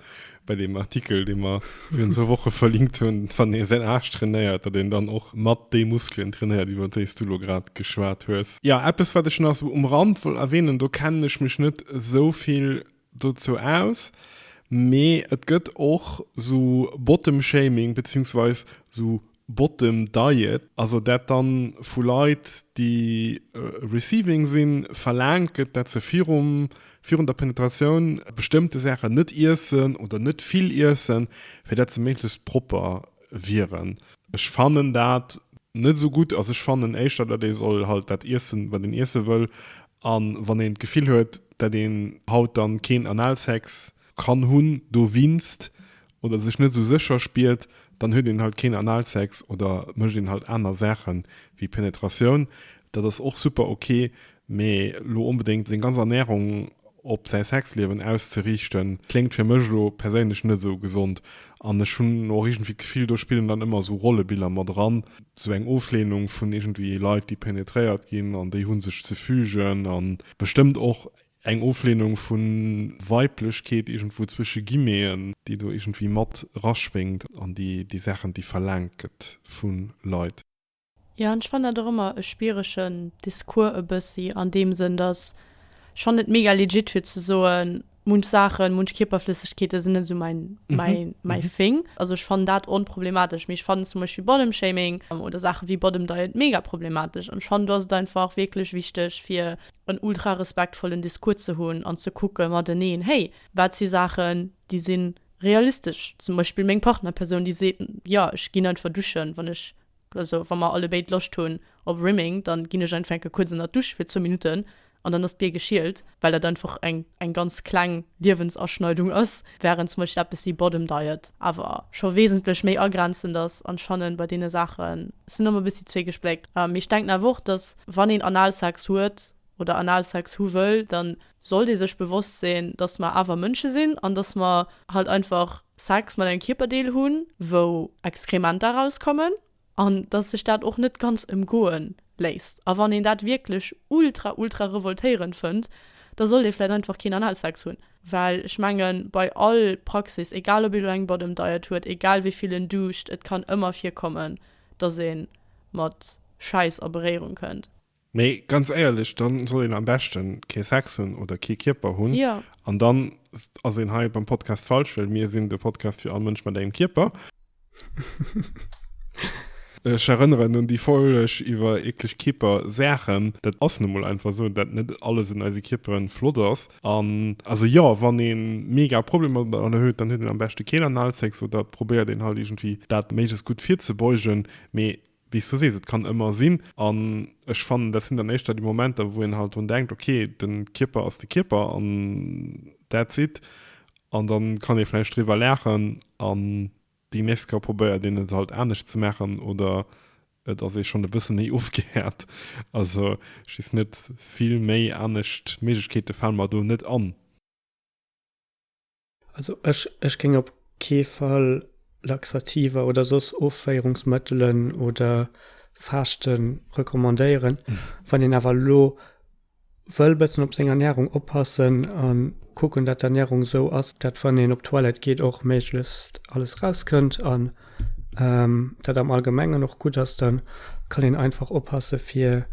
bei deem Artikel, dee mer virun zwou Woche verlinkt hunn, Wann ee säin Aarsch trainéiert, datt een dann och mat déi Muskelen trainéiert, iwwer déi s du elo grad geschwat hues. Jo, eppes, wat ech nach esou um Rand wollt erwähnen, do kennen ech mech net esou vill dozou aus, mee et gëtt och esou Bottom-Shaming, beziehungsweis esou Bottom Diet, also dat dann vu Leit déi receiving sinn verlaangt gëtt dat se virum virun der Penetratioun bestëmmte Saachen net iessen oder net vill iessen fir dat se méiglechst propper wieren. Ech fannen dat net esou gutt, also ech fannen éischter dat ee soll halt dat iessen wat een iesse wëll an wann een d'Gefill huet dat een haut dann keen Analsex kann hunn dowinst oder sech net esou sécher spiert, dann huet een halt keen Analsex oder mécht een halt aner Saachen wéi Penetratioun. Dat ass och super ok, mee lo onbedéngt seng ganz Ernährung op säi Sexliewen auszeriichten, kléngt fir mech lo perséinlech net esou gesond. An ech hunn och iergendwéi d'Gefill, do spillen dann ëmmer esou Rollebiller mat eran, esou eng Ofleenung vun iergendwéi Leit, déi penetréiert ginn an déi hu sech ze fügen an bestëmmt och Eng Ofleenung vu Weiblechkeet iergendwou zwësche Guillemeten, déi do iergendwéi mat raschwéngt an déi Saachen, déi verlaangt gëtt vu Leit. Jo, an ech fannen dat och ëmmer e schwieregen Discours e bëssi an deem Sënn, datt ech fannen et mega legit fir ze soen, munch Saachen, munch Kierperflëssegkeete sinn net esou mäi, mäi Thing. Also ech fannen dat onproblematesch, mee ech fannen zum Beispill Bodymshaming oder Saache wéi Bodymdiet mega problematesch an ech fannen do ass et einfach wierklech wichteg fir, en ultra respektvollen Discours ze hunn an ze kucke mateneen, hey, wat si Saachen, déi si realistesch? Zum Beispill meng Partnerpersoun, déi seet, jo, ech ginn einfach duschen, wann ech, also wa mer allebéid Loscht hunn op Rimming, da ginn ech einfach enke kuerz ënner d'Dusch fir zwou Minutten an dann ass d'Bier geschielt, well dat einfach eng ganz kleng Liewensaschneidung ass. Wärend Smush eppes si Bottom Diet awer scho wesentlech méi agrenzend ass an Schannen bei deene Saachen sinn och mol bëssi zweegespléckt. Mee ech denken awer och dass wann een Analsex huet oder Analsex hu wëll dann sollt ee sech bewosst sinn dass mer awer Mënsche sinn an dass mer halt einfach Sex mat engem Kierperdeel hunn wou Exkrementer erauskommen. An dass sech dat och net ganz emgoe léisst. A wann een dat wierklech ultra, ultra revoltéierend fënnt, da sollt ee vläit einfach keen Analsex hunn. Well ech mengen, bei all Praxis, egal ob ee lo eng Bottom Diet huet, egal wéi vill en duuscht, et kann ëmmer virkommen, dass ee mat Schäiss a Beréierung kënnt. Mee ganz éierlech, dann soll een am beschten kee Sex hunn oder kee Kierper hunn. Jo. An dann ass een hei beim Podcast falsch, well mir sinn de Podcast fir all Mënsch mat engem Kierper. Ech erënneren un déi Folg iwwer eekleg Kierpersaachen. Dat ass nu mol einfach esou, dat net alles un eise Kierperen flott ass. An also jo, wann ee mega Problemer domadder huet, dann huet een am beschte keen Analsex oder probéiert een halt iergendwéi dat méiglechst gutt virzebeugen. Mee. Wéi s du sees, et kann ëmmer sinn. An ech fannen, dat sinn dann éischter déi Momenter, wou een halt drun denkt, ok, de Kierper ass de Kierper an that's it. An da kann ee vläicht driwwer laachen an déi nächst Kéier probéiert een et halt anescht ze maachen oder et ass ee schonn e bësse méi ofgehäert. Also ech weess net, vill méi anescht Méiglechkeete fale mer do net an. Also ech, ech géing op kee Fall Laxativer oder soss Offéierungsmëttelen oder Faaschte recommandéieren. Wann een awer elo wëll bëssen op seng Ernärung oppassen a kucken, datt d'Ernärung esou ass, datt wann een op d'Toilette geet och méiglechst alles rauskënnt an. Dat am Allgemengen och gutt ass, dann kann een einfach oppassen fir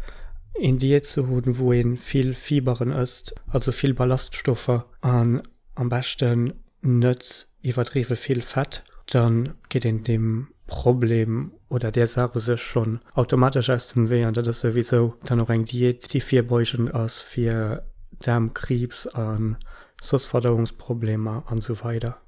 een Diät ze hunn wou een vill Fiberen ësst, also vill Ballaststoffer an am beschten net iwwerdriwwen vill Fett, dann geet een deem Problem oder där Saach u sech schonn automatesch aus dem Wee an dat ass souwisou dann och eng Diät déi virbeugend ass fir Daarmkriibs an soss Verdauungsproblemer an esou weider.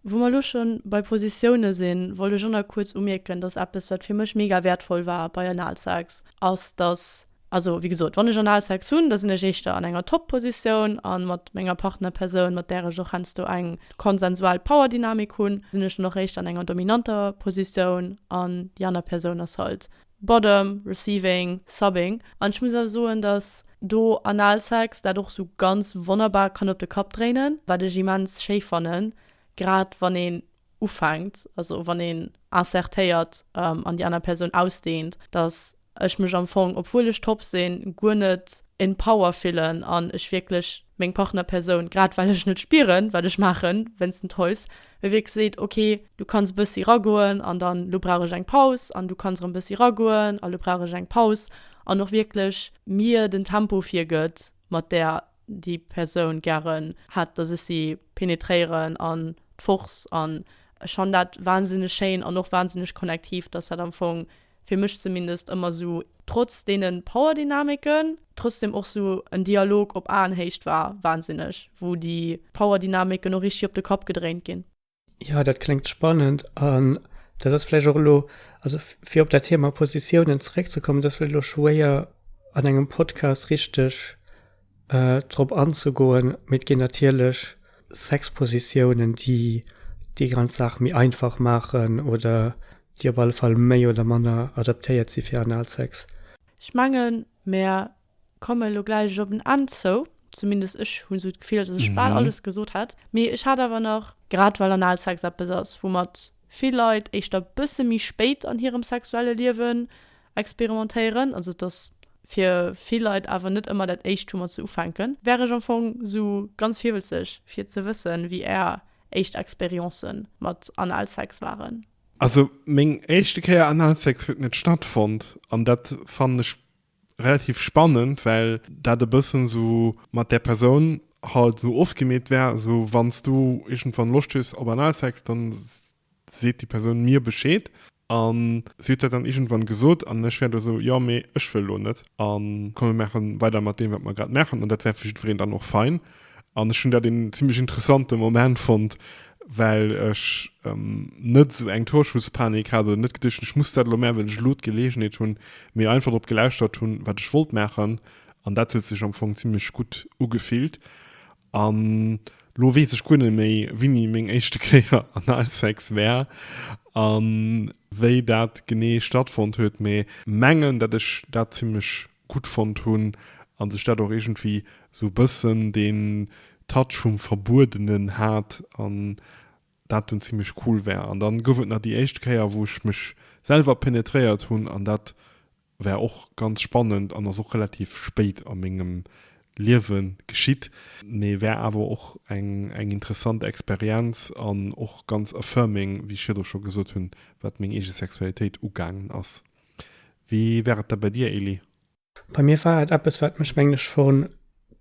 Wou mer elo schonn bei Positiounen sinn, wollt ech och nach kuerz umierken, dass eppes wat fir mech mega wäertvoll war bei Analsex ass, dass, also wéi gesot, wann ech Analsex hunn, da sinn ech éischter an enger Top-Positioun a mat menger Partnerpersoun, mat där ech och heiansdo eng konsensual Power-Dynamik hunn, sinn ech dann och éischter an enger dominanter Positioun an déi aner Persoun ass halt Bottom, Receiving, Subbing. An ech muss awer soen, datt do Analsex dat och esou ganz wonnerbar kann op de Kapp dréinen, wat ech immens schéi fannen, grad wann een ufänkt, also wann een insertéiert an déi aner Persoun ausdehnt, datt ech mech am Fong, obwuel ech top sinn, guer net in power fillen an ech wierklech meng Partnerpersoun, grad well ech net spieren, wat ech maachen, wéinsten d'Häus, mee wierklech seet, ok, du kanns e bëssi ragoen an dann, elo brauch ech eng Paus an du kanns erëm e bëssi ragoen a elo brauch ech eng Paus an och wierklech mir den Tempo virgëtt, mat där déi Persoun gären hätt, datt ech si penetréieren an d'Force. An ech fannen dat wahnsinneg schéin an och wahnsinneg connectiv, datt dat am Fong fir mech zumindest ëmmer sou, trotz deene Powerdynamiken, trotzdem och sou en Dialog op Aenhéicht war, wahnsinneg, wou déi Powerdynamiken och richteg op de Kapp gedréint ginn. Jo, dat kléngt spannend. An dat ass vläicht och elo, also fir op dat Thema Positiounen zeréckzekommen, dat ass vläicht elo schwéier an engem Podcast richteg drop anzegoen, mee et ginn natierlech Sexpositiounen, déi déi ganz Saach méi einfach maachen oder déi op alle Fall méi oder manner adaptéiert si fir Analsex. Ech mengen, mer komme lo gläich op en Enn zou, zumindest ech hu sou d'Gefill, datt ech bal alles gesot hat. Mee ech hat awer nach, grad well Analsex eppes ass, woumat vill Leit éischter bësse méi spéit an hirem sexuelle Liewen experimentéieren, also dass fir vill Leit awer net ëmmer dat éischt hu mat se ufänken, wär ech am Fong sou ganz virwëlzeg fir ze wëssen wéi är éischt Expérience mat Analsex waren. Also meng éischte Kéier Analsex huet net stattfonnt an dat fannen ech relativ spannend, well dat e bëssen esou mat där Persoun halt esou ofgemeet war, esou wann s du iergendwann Loscht hues op Analsex, dann seet déi Persoun mir Bescheed. An si huet dat dann iergendwann gesot an ech war do esou, jo, mee ech wëll elo net. A komm mir maache weider mat deem, wat mer grad maachen. An dat war fir jiddwereen dann och fein. An ech hunn dat een zimmlech interessante Moment fonnt, well ech ähm, net esou eng Torschusspanik hat oder net geduecht hunn, ech muss dat elo maachen, well ech elo d'Geleegenheet hunn, mee einfach drop gelauschtert hunn, wat ech wollt maachen. An dat huet sech am Fong zimmlech gutt ugefillt. An elo weess ech guer net méi, wéini meng éischte Kéier Analsex war a wéi dat genee stattfonnt huet, mee mengen, datt ech dat zimmlech gutt fonnt hunn a sech dat och iergendwéi esou e bëssen deen Touch vum Verbuedenen hat an dat dunn zimlech cool war. An dann gouf et nach déi éischt Kéier wou ech mech selwer penetréiert hunn an dat war och ganz spannend an ass och relativ spéit a mengem Liewe geschitt, mee war awer och eng interessant Experienz an och ganz affirming, wéi ech virdru scho gesot hunn, wat meng eege Sexualitéit ugaangen ass. Wéi war et da bei dir, Elie? Bei mir war et eppes, wat mech, mengen ech, scho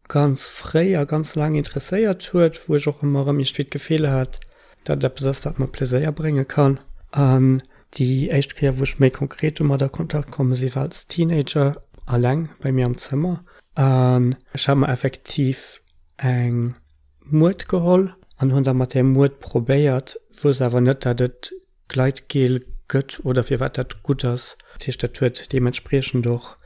ganz fréi a ganz laang interesséiert huet, wou ech och ëmmer erëm iergendwéi d'Gefill hat, datt et eppes ass, wat mer Pleséier brénge kann. An déi éischt Kéier, wou ech méi konkret domat a Kontakt komme sinn, war als Teenager, eleng bei mir am Zëmmer. An ech hat mer effektiv eng Muert geholl an hunn da mat där Muert probéiert, wousst awer net, datt et Gleitgel gëtt oder firwat dat gutt ass. Dat heescht, dat huet deementspriechend och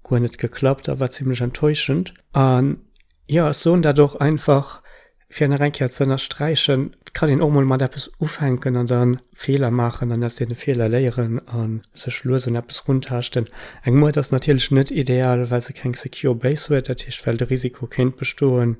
guer net geklappt a war zimmlech enttäuschend. An jo, ech soen dat och einfach, fir nach eng Kéier ze ënnersträichen, et kann een och mol mat eppes ufänken an da Feeler maachen an aus deene Feeler léieren a sech lues un eppes runtaaschten. Eng Muert ass natierlech net ideal, well se keng secure Base huet, dat heescht, well de Risiko kéint bestoen,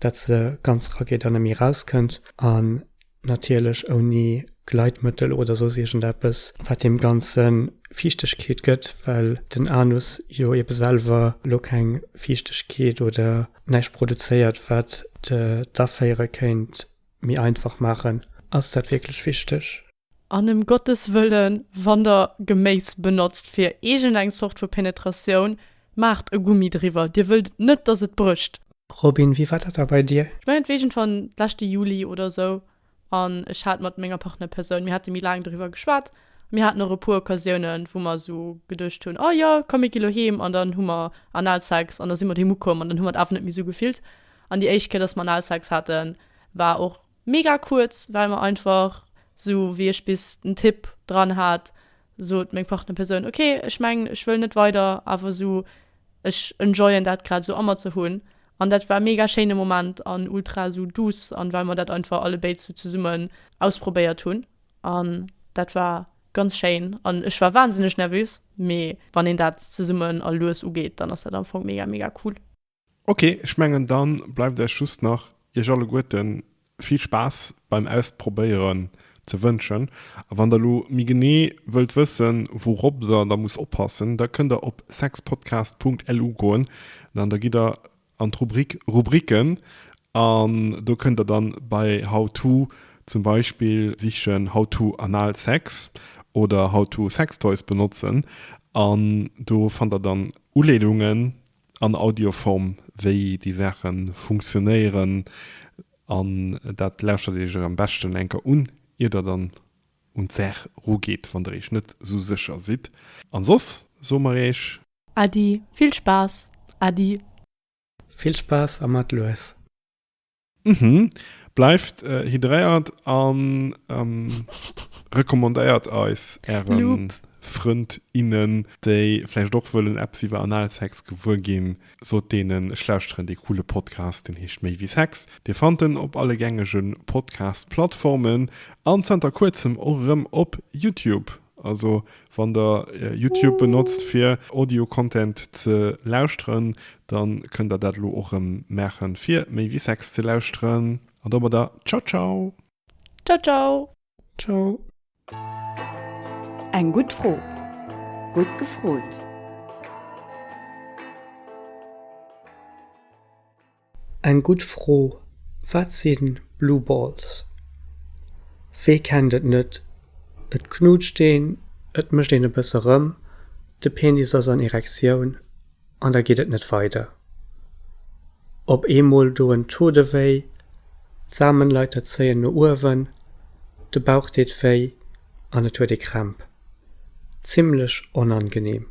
dat se ganz rageet an net méi erauskënnt. An natierlech ouni Gleitmëttel oder soss iergendeppes, wat deem Ganze Fiichtegkeet gëtt, well den Anus jo ebe selwer elo keng Fiichtegkeet oder näischt produzéiert, wat d'Aféiere kéint méi einfach maachen. Ass dat wierklech wichteg? An ëm Gottes Wëllen, wann der Geméis benotzt fir iergendeng Zort vu Penetratioun, Maacht e Gummi driwwer, dir wëllt net dass et brécht. Robin, wéi war dat da bei dir? Ech mengen et war iergendwann d'leschte Juli oder esou an ech hat mat menger Partnerpersoun, mir hate méi laang doriwwer geschwat a mir haten och e puer Occasiounen wou mer esou geduecht hunn, oh jo komm mir gi lo heem an dann hu mer Analsex an da si mer doheem ukomm an dann hu mer et awer net méi esou gefillt an déi éischt Kéier dass mer Analsex haten war och Mega kuerz well mer einfach sou wéi ech bis den Tipp dran hat sot meng Partnerpersoun ok ech mengen ech wëll net weider awer sou ech enjoyen dat grad sou a mer ze hunn an dat war mega schéine Moment an ultra sou douce an well mer dat einfach allebéid sou zesummen ausprobéiert hunn an dat war ganz schéin an ech war wahnsinneg nervös mee wann een dat zesummen a lues ugeet dann ass dat am Fong mega mega cool. Ok, ech mengen dann bleiwt eis just nach iech alleguerten vill Spaass beim Ausprobéieren ze wënschen. A wann der lo méi genee wëllt wëssen wourop der da muss oppassen, da kënnt der op sexpodcast.lu goen an da gitt der an d'Rubrik Rubriken an do kënnt der dann bei How to zum Beispill sichen How to anal sex oder How to sextoys benotzen an do fannt der dann Uleedungen. an Audioform, wéi déi Saache funktionéieren. An dat lauschtert Dir Iech am beschten eng Kéier un, ier Der dann un d'Saach rugeet, wann Der Iech net esou sécher sidd. An soss soe mer Iech. Äddi, vill Spaass! Äddi! Vill Spaass a mat lues! Mhm. Bleift hydréiert an recommandéiert eis ären Loop. Frënd, innen déi vläicht och wëllen eppes iwwer Analsex gewuer ginn. Sot deenen ech lauschteren dee coole Podcast, deen heescht Méi wéi Sex. Dir fannt en op alle gängege Podcast-Plattformen an zanter kuerzem och erëm op Youtube. Also wann der Youtube benotzt fir Audio Content ze lauschteren, dann kënnt der dat elo och rëm maachen fir méi wéi Sex ze lauschteren. An domadder ciao ciao! Ciao ciao! Ciao! Eng gutt Fro, gutt gefrot! Eng gutt Fro, wat si Blue Balls? Wee kennt et net, et knutscht een, et mécht een e bësse rëm, de Penis ass an Erektioun an da geet et net weider. Op eemol do en Taux de wéi, d'Samenleiter zéien no uewen, de Bauch deet wéi an et huet ee Krämp. Zimmlech onangenehm.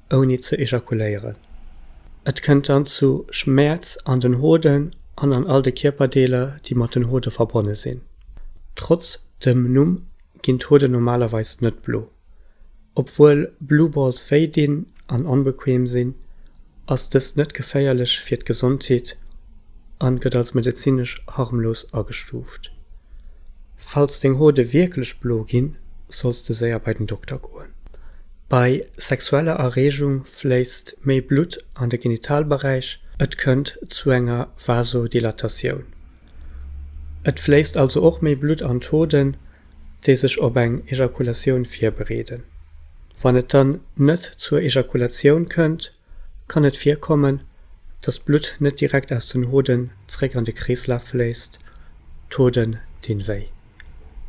ouni ze ejakuléieren. Et kënnt dann zu Schmäerz an den Hoden an an all de Kierperdeeler, déi mat den Hode verbonne sinn. Trotz dem Numm ginn d'Hoden normalerweis net blo. Obwuel Blue Balls wéi dinn an onbequeem sinn, ass dëst net geféierlech fir d'Gesondheet a gëtt als medezinesch harmlos agestuuft. Falls deng Hode wierklech blo ginn, solls de séier bei den Dokter goen. Bei sexueller Erreegung fléisst méi Blutt an de Genitalberäich, et kënnt zu enger Vasodilatatioun. Et fléisst also och méi Blutt an d'Hoden, déi sech op eng Ejakulatioun virbereeden. Wann et dann net zur Ejakulatioun kënnt, Kann et virkommen, dass d'Blutt net direkt aus den Hoden zréck an de Kreeslaf fléisst? D'Hoden dinn wéi.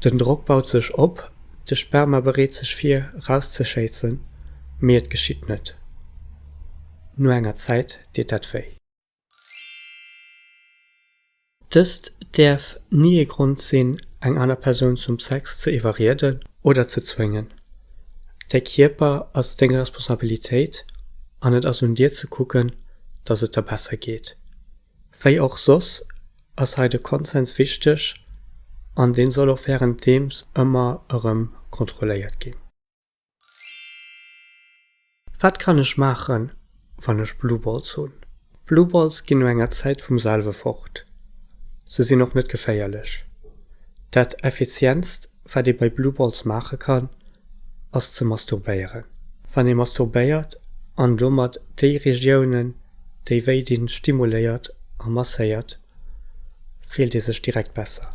Den Drock baut sech op, de Sperma bereet sech vir erauszeschéissen, mee et geschitt net. No enger Zäit deet dat wéi. Dëst däerf ni ee Grond sinn, eng aner Persoun zum Sex ze iwwerrieden oder ze zwéngen. Däi Kierper ass deng Responsabilitéit an et ass un dir ze kucken, dass et der besser geet. Wéi och soss ass hei de Konsens wichteg an deen soll och wärenddeems ëmmer erëm kontrolléiert ginn. Wat kann ech maachen wann ech Blueballs hunn? Blueballs ginn no enger Zäit vum selwe fort. Se sinn och net geféierlech. Dat effizientst wat ee bei Blueballs maache kann ass ze masturbéieren. Wann ee masturbéiert an domat déi Regiounen déi wéi dinn stimuléiert a masséiert, fillt ee sech direkt besser.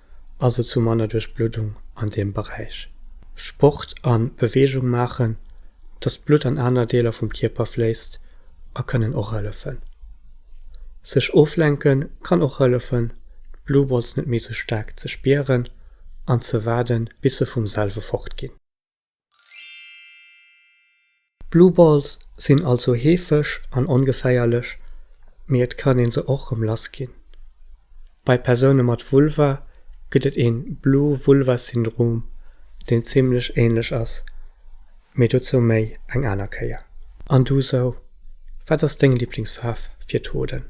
also zu manner Duerchbluddung an deem Beräich. Sport a Beweegung maachen, dass d'Blutt an aner Deeler vum Kierper fléisst a kënnen och hëllefen. Sech oflenke kann och hëllefen, d'Blueballs net méi sou staark ze spieren an ze waarden, bis se vum selwe fortginn. Blue Balls sinn also heefeg an ongeféierlech, mee et kann een se och rëm lass ginn. Bei Persoune mat Vulva gëtt et een Blue Vulva Syndrom, deen zimmlech ähnlech ass, mee dozou méi eng aner Kéier. An du sou, wat ass deng Liblingsfaarf fir d'Hoden?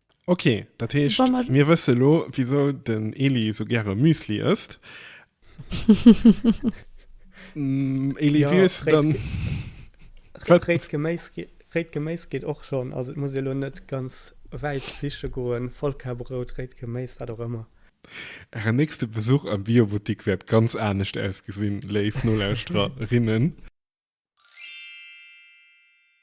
Ok, dat heescht, mir wësse lo wisou den Eli sou gäre Müsli ësst. Eli wéi hues de dann. Réit Geméis geet och schonn. Also et muss ee lo net ganz wäit siche goen. Vollkarbrout, réit Geméis, wat och ëmmer. Ären nächste Besuch am Biobuttik wäert ganz anescht ausgesinn, léif Nolauschtererinnen.